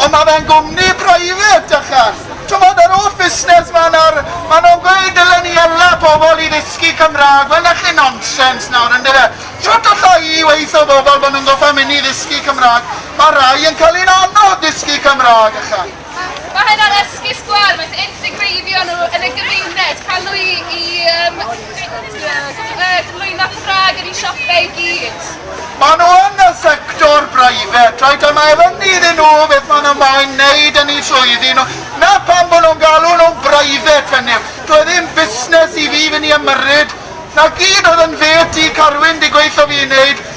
Ond mae fe'n gwmni private ychan. T'mod yr holl fusnes 'ma nawr, ma' nhw'n gweud dylen ni ela pobl i ddysgu Cymraeg, wel 'na chi nonsens nawr yndyfe? Shwt alla i weutho bobl bo' nhw'n gorfod mynd i ddysgu Cymraeg, ma' rhai yn cael hi'n anodd dysgu Cymraeg ychan. Mae hynna'n esgus gwell, wrth integreiddio nhw yn y gymuned, cael nhw i i yym Maen nhw yn y sector breifat, reit, a mae rhyny iddyn nhw beth maen nhw moyn wneud yn eu swyddi nhw. 'Na pam bod nhw'n galw nhw'n breifat, hynny yw, dyw e ddim busnes i fi fynd i ymyrryd. 'Na gyd oedd yn fêt i, Carwyn, di gweithio fi i wneud.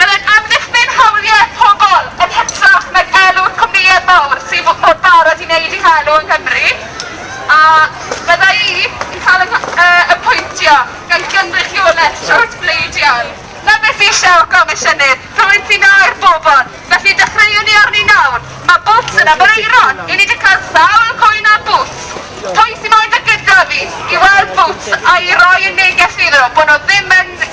Byddai'n amddiffyn hawliau pobl yn hytrach nag elw'r cwmnïau mawr sydd mor barod i wneud eu helw yng Nghymru, a fydda i yn cael fy nghyapwyntio gan gynrychiolaeth siwrt bleidiol. Na beth fi eisiau, Comisiynydd, rhywun sy'n aur bobl, felly dechreuwn ni arni nawr. Mae boots yn ymyrraeron, i ni 'di cael sawl cwyn am boots. Pwy sy moyn dod gyda fi i weld boots a'i roi yn neges iddo bod nhw ddim yn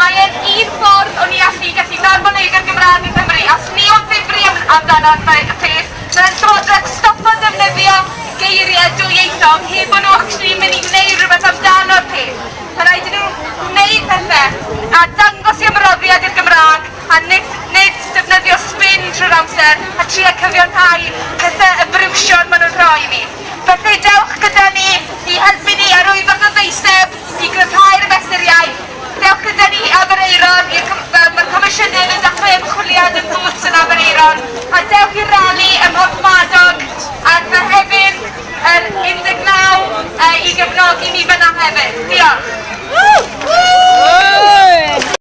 Mae e'n un ffordd o ni allu gallu darfod neud yr Gymraeg yng Nghymru. Os ni am ddifri am amdan ar fe y peth, dylai'r Llywodraeth stopo defnyddio geirie dwyieithog heb bo nhw actually yn mynd i wneud rhywbeth amdano'r peth. Mae rhaid i nhw wneud pethe a dangos i ymroddiad i'r Gymraeg a nid nid defnyddio spin trwy'r amser a trio cyfiawnhau pethe y briwsion ma' nhw'n rhoi i ni. Felly dewch gyda ni i helpu ni a rhoi fath o ddeiseb i gryfhau'r mesuriau. Diolch gyda ni i Aberaeron i'r cyfan. Mae'r Comisiynydd yn dechrau ymchwiliad yn Boots yn Aberaeron a dewch i'r rali ym Mhorthmadog ar Fehefin yr 19 i gefnogi ni fan'na hefyd. Diolch.